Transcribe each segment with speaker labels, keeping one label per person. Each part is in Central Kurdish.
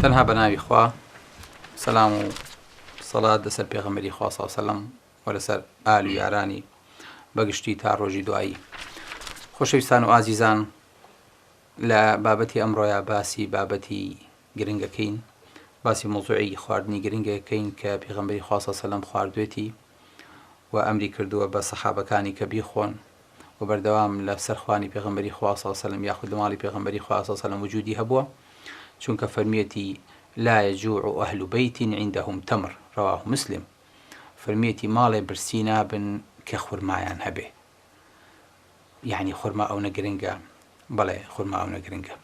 Speaker 1: تەنها بەناوی خوا سەلام و سەڵات لەسەر پێغەمبەری خوا صلی الله علیه و سلم و لەسەر ئال و یارانی بەگشتی تا ڕۆژی دوایی خۆشەویستان و ئازیزان لە بابەتی ئەمڕۆیا باسی بابەتی گرنگەکەین باسی موضوعی خواردنی گرنگەکەین کە پێغەمبەری خوا صلی الله علیه و سلم خواردوێتی وە ئەمری کردووە بە سەحابەکانی کە بیخۆن وە بەردەوام لە سەر خوانی پێغەمبەری خوا صلی اللە علیە وسلم یاخود لە ماڵی پێغەمبەری خوا صلی اللە علیە وسلم وجودی هەبووە چونکە فەرمیێتی لا یجوع اهل بیت عندهم تمر رواه مسلم فەرمیێتی ماڵێ برسی نابن کە خورمایان هەبێ. یانی خورما ئەونە گرنگە؟ بەڵێ خورما ئەونە گرنگە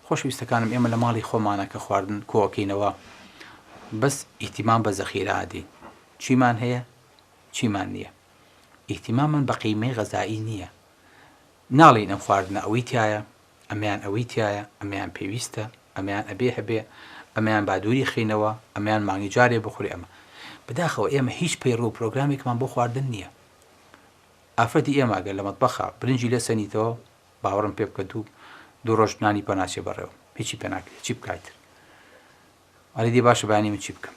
Speaker 1: خۆشویستەکانم ئێمە لە ماڵی خۆمانە کە خواردن کۆکەینەوە بەس ئیتیمان بە زەخیرادی چیمان هەیە چیمان نییە ئیتیمامان بە قیمەی غەزایی نییە ناڵین ئەم خواردنە ئەوەی تایە ئەمیان ئەوەی تایە ئەمیان پێویستە ئەمیان ئەبێ هەبێ ئەمیان بادووری خینەوە ئەمیان مانگی جارێ بخورێ ئەمە بداخەوە ئێمە هیچ پەیڕوو پرۆگرامێکمان بۆ خواردن نییە ئافرەتی ئێمە گەر لە مەتبەخا برنجی لێ سەنیتەوە باوەڕم پێ بکە دوو دوو ڕۆژ نانی پێ ناچێ بەڕێوە هیچی پێ ناکرێ چی بکای تر ئەرێ دێ باشە بانی من چی بکەم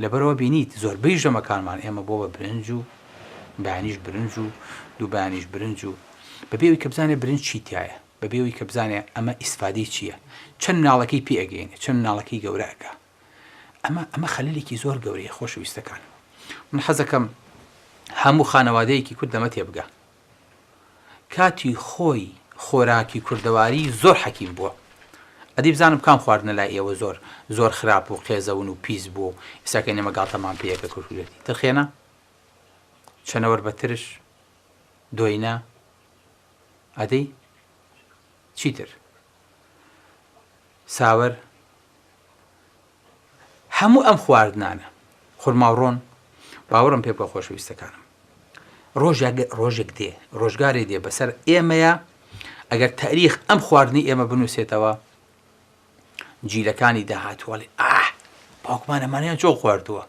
Speaker 1: لەبەرەوە بینیت زۆربەی ژەمەکانمان ئێمە بۆ بە برنج و بەیانیش برنج و دوو بەیانیش برنج و بەبێوی کە بزانێ برنج چی تایە بەبێوی کە بزانێ ئەمە ئیسفادەی چییە چەند ناڵەکەی پێ ئەگەینێ چەند ناڵەکەی گەورە ئەکا ئەمە ئەمە خەلەلێکی زۆر گەورەیە خۆشەویستەکان من حەزەکەم هەموو خانەوادەیەکی کورد لەمە تێبگا کاتی خۆی خۆراکی کوردەواری زۆر حەکیم بووە ئەدی بزانم کام خواردنە لای ئێوە زۆر زۆر خراپ و قێزەون و پیس بوو و ئیساکە نێمە گاڵتەمان پێیەکە کورکورێتی ترخێنە چەنەوەر بە ترش دۆینە ئەدەی چیتر ساوەر هەموو ئەم خواردنانە، خورما و ڕۆن، باوەڕم پێ بکە خۆشەویستەکانم، ڕۆژێک ڕۆژێک دێ، ڕۆژگارێ دێ بەسەر ئێمەیە، ئەگەر تاریخ ئەم خواردنی ئێمە بنووسێتەوە، جیلەکانی داهاتوو ئەڵێ ئاه! باوکمان ئەمانەیان چۆن خواردووە،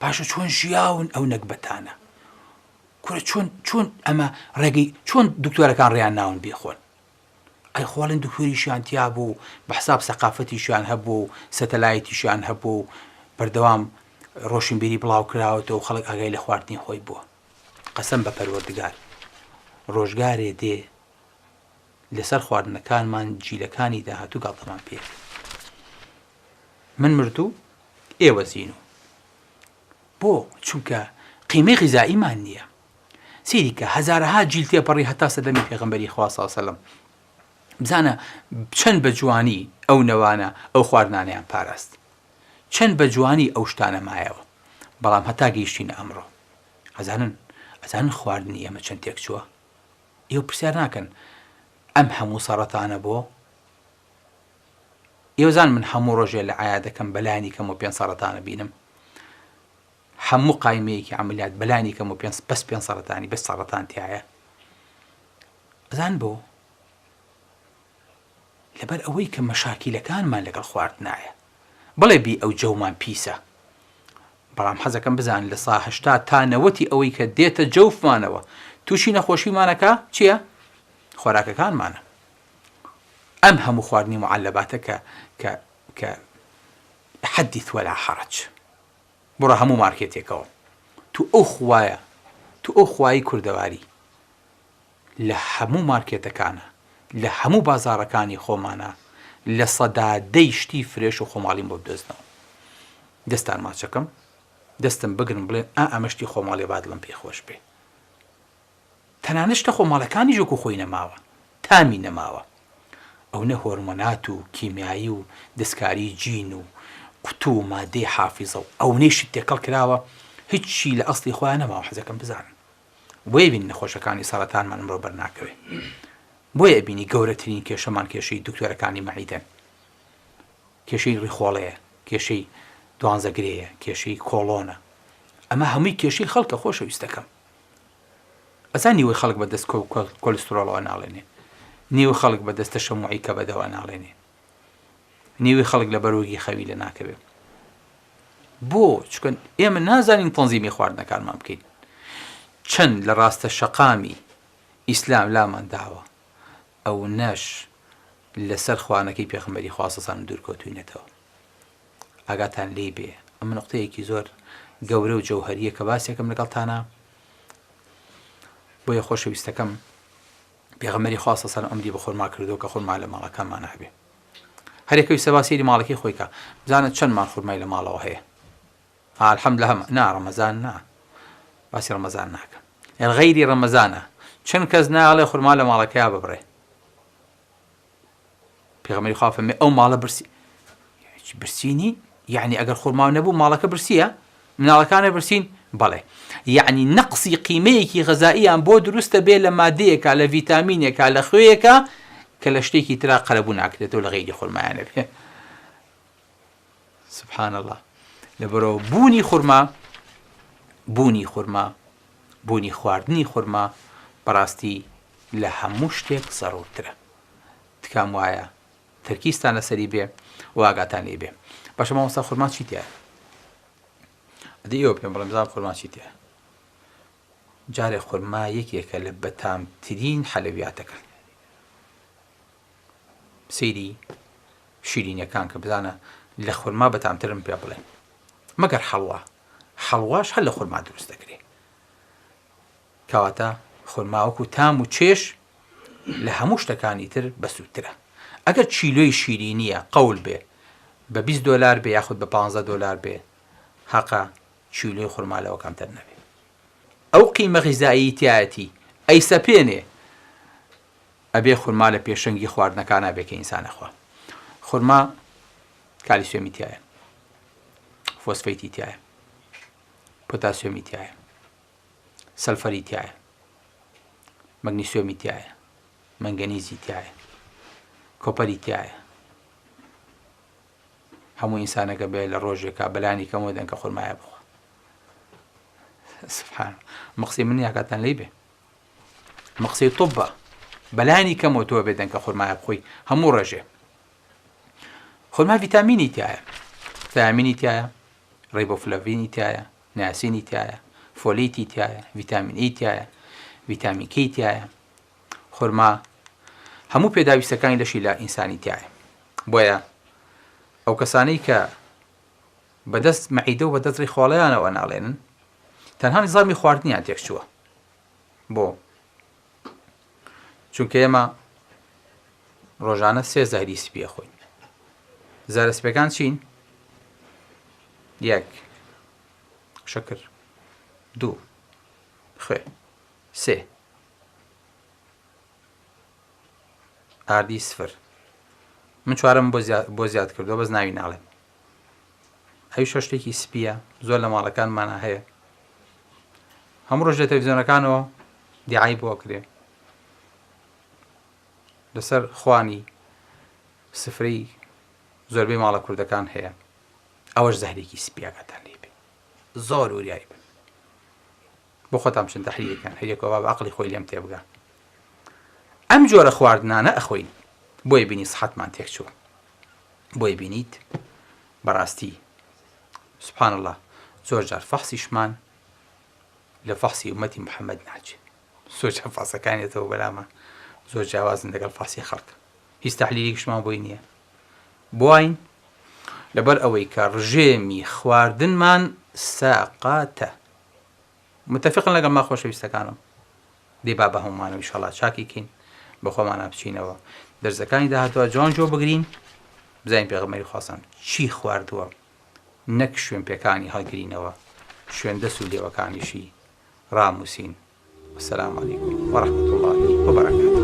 Speaker 1: باشە چۆن ژیاون ئەو نەگبەتانە، کورە چۆن چۆن ئەمە ڕێگەی چۆن دکتۆرەکان ڕێیان ناون بیخۆن، ئەیخۆڵین دکتۆریشیان تیابوو و بەحساب سەقافەتیشیان هەبوو و سەتەلایتیشیان هەبوو و بەردەوام ڕۆشنبیری بڵاوکراوەتەوە خەڵک ئاگای لە خواردنی خۆی بووە قەسەم بە پەروەردگار ڕۆژگارێ دێ لەسەر خواردنەکانمان جیلەکانی داهاتوو گاڵتەمان پێ من مردوو ئێوە زین و بۆ چونکە قیمەی غیزاییمان نییە سەیری کە هەزارەها جیل تێپەڕی هەتا سەردەمی پێغەمبەری خوا صلی اللە علیە و سلم بزانە چەند بە جوانی ئەو نەوانە ئەو خواردنانەیان پاراست چەند بە جوانی ئەو شتانە مایەوە بەڵام هەتا گەیشتینە ئەمڕۆ ئەزانن ئەزانن خواردنی ئێمە چەند تێک چووە ئێوە پرسیار ناکەن ئەم هەموو سەڕەتانە بۆ ئێوەزان من هەموو ڕۆژێ لە عیا دەکەم بەلایانی کەم و پێ سەڕەتانە بینم هەموو قایمەیەکی عەمەلیات بەلانی کەم پێنج بەس پێنج سەرەتانی بەس سەرەتان تیایە ئەزان بۆ لەبەر ئەوەی کە مەشاکیلەکانمان لەگەڵ خوارد نایە بڵێ بی ئەو جەومان پیسە بەڵام حەزەکەم بزان لە ساهشتا تا نەوەتی ئەوەی کە دێتە جەوفمانەوە تووشی نەخۆشیمانەکە چییە؟ خۆراکەکانمانە ئەم هەموو خواردنی معلەباتە کە کە کە حەدیث وەلا حەڕج بڕۆ هەموو مارکێتێکەوە تو ئەو خوایە تو ئەو خوایی کوردەواری لە هەموو مارکێتەکانە لە هەموو بازاڕەکانی خۆمانە لە سەدا دەی شتی فرێش و خۆماڵیم بۆ بدۆزنەوە دەستان ماچەکەم دەستم بگرن بڵێن ئا ئەمە شتی خۆماڵێ با دڵم پێی خۆش بێ. تەنانەت شتە خۆماڵەکانیش وەکو خۆی نەماوە تامی نەماوە ئەونە هۆرمۆنات و کیمیایی و دەستکاری جین و قوتو و مادەی حافیزە و ئەونەی شت تێکەڵ کراوە هیچی لە ئەسڵی خۆیان نەماوە حەزەکەم بزانن بۆیە بینی نەخۆشەکانی سەڕەتانمان ئەمڕۆ بەرناکەوێ بۆیە ئەبینی گەورەترین کێشەمان کێشەی دکتۆرەکانی مەعیدەن کێشەی ڕیخۆڵەیە کێشەی دوانزەگرەیە کێشەی کۆڵۆنە ئەمە هەمووی کێشەی خەڵکە خۆشەویستەکەم ئەزا نیوەی خەڵک بە دەست کۆ و کۆلسترۆڵەوە ناڵێنێ، نیوەی خەڵک بە دەست تەشەموعی کەبەدەوە ناڵێنێ، نیوەی خەڵک لە بەرۆکی خەوی لە ناکەوێ. بۆ؟ چونکە ئێمە نازانین تەنزیمی خواردنەکانمان بکەین. چەند لە ڕاستە شەقامی ئیسلام لامان داوە، ئەونەش لەسەر خوانەکەی پێخمبەری خواستەسان دوورکەوتوینەتەوە. ئاگاتان لێی بێ ئەمە نقطەیەکی زۆر گەورە و جەوهەریە کە باسێکم لەگەڵتانە بۆیە خۆشەویستەکەم پێغەمەری خواستە سەر ئەمری بە خۆرما کردو کە خۆرما لە ماڵەکانمان هەبێ هەرێکەوی سەباسیری ماڵەکەی خۆیکە بزانە چەندمان خورمای لە ماڵەوە هەیە ئالحەم لە هەم نا ڕەمەزان نا باسی ڕەمەزان ناکە یان غەیری ڕەمەزانە چەند کەس ناڵێ خورما لە ماڵەکەیا ببڕێ پێغەمبەری خوا فەرمی ئەو ماڵە برسی هیچ برسی نین یعنی ئەگەر خورما نەبوو ماڵەکە برسیە مناڵەکانە برسین بەڵێ یعنی نەقسی قیمەیەکی غەزاییان بۆ دروستە بێ لە مادەیەکە لە ڤیتامینێکە لە خوێیەکە کە لە شتێکی ترا قەرەبوو ناکرێتەوە لە غیری خورمایانە بێ سبحان اللە لەبەرۆ بوونی خورما بوونی خورما بوونی خواردنی خورما بەڕاستی لە هەموو شتێک سەڕوترە تکام وایە تەرکیستان لەسەری بێ واگاتان لێ بێ باشە مامۆستا خورما چی تیا ئەدی ئێوە پێم بڵێ بزان خورما چی تیا جارێ خورما یەکێکە لە بەتامترین حەلەویاتەکان سەیری شیرینیەکان کە بزانە لە خورما بەتامترن پێ بڵێن مەگەر حەڵوا حەڵواش هەر لە خورما دروست دەکرێت کەواتە خورماوەکو تام و چێش لە هەموو شتەکانی تر بەسوودترە ئەگەر چیلۆی شیرینیە قەول بێ بە 20 دلار بێ یاخود بە 15 دلار بێ هەقە چیلۆی خورمالەوە کەمتر نەبێ ئەو قیمە غیزاییتایەتی ئەی سەپێنێ ئەبێ خورما لە پێشەنگی خواردنەکانا بێ کە ئینسان ئەخوا. خورما کالیسیۆمی تیایە، فۆسفەیتی تیایە، پۆتاسیۆمی تیایە، سەلفەری تیایە، مەگنیسیۆمی تیایە، مەنگەنیزی تیایە، کۆپەری تیایە. هەموو ئینسانەکە بێ لە ڕۆژێکا بەلانی کەمەوە دەنکە خورمایە بخوا. سبحان مقسی من یاکاتان لی بێ. ئەمە قسەی طبە بەلانی کەمەوە تۆ بێ دەنکە خورمایە بخۆی هەموو ڕێژێ خورما ڤیتامینی تایە تامینی تایە ڕێبۆفلڤینی تایە ناسینی تایە فۆلیتی تایە ڤیتامین ئی تایە ڤیتامینکی تایە خورما هەموو پێداویستەکانی لەشی لە ئینسانی تایە بۆیە ئەو کەسانەی کە بەدەست مەعیدە و بەدەست ڕیخواڵیانەوە ناڵێنن تەنها نیزامی خواردنیان تێکچووە بۆ چونکە ئێمە ڕۆژانە سێ زەهری سپیە خۆین زارە سپەکان چین یەک شەکر دوو خوێ سێ ئاردی سفر من چوارم بۆ زیاد کردو بەس ناوی ناڵێن ئەویشە شتێکی سپییە زۆر لە ماڵەکانمانا هەیە هەموو ڕۆژ لە تەلەڤیزیۆنەکانەوە دیعای بۆ کرێ لەسەر خوانی سفرەی زۆربەی ماڵە کوردەکان هەیە ئەوەش زەهرێکی سپیاکەتان لێ بێ زۆر وریایی بن بۆ خۆتان چند تحلیەکان هەریەکەوە باب عقلی خۆی لێم تێبگا ئەم جۆرە خواردنانە ئەخۆین بۆیە بینی سحتمان تێکچوو بۆی بینیت بەڕاستی سبحان اللە زۆر جار فەحسیشمان لە فەحسی ئومەتی محەممەد ناچێت زۆر جا فاسەکانێتەوە بەلامە زۆر جیاوازن لەگەڵ فاسی خەڵک هیچ تحلیلیکشمان بۆی نییە بواین لەبەر ئەوەی کە ڕژێمی خواردنمان ساقاتە متفقن لەگەڵ من خۆشەویستەکانم. دەی با بەهەموومانەوە ئیشەڵا چاکی کەین بەخۆمانا بچینەوە دەرزەکانی داهاتوە جوان جۆ بگرین بزانین پێغەمبەری خوا سەم چی خواردووە نەک شوێن پێکانی هەڵگرینەوە شوێن دەس و لێوەکانیشی ڕاموسین وسلام علیکم وەڕحمەت اللهی وبرکاته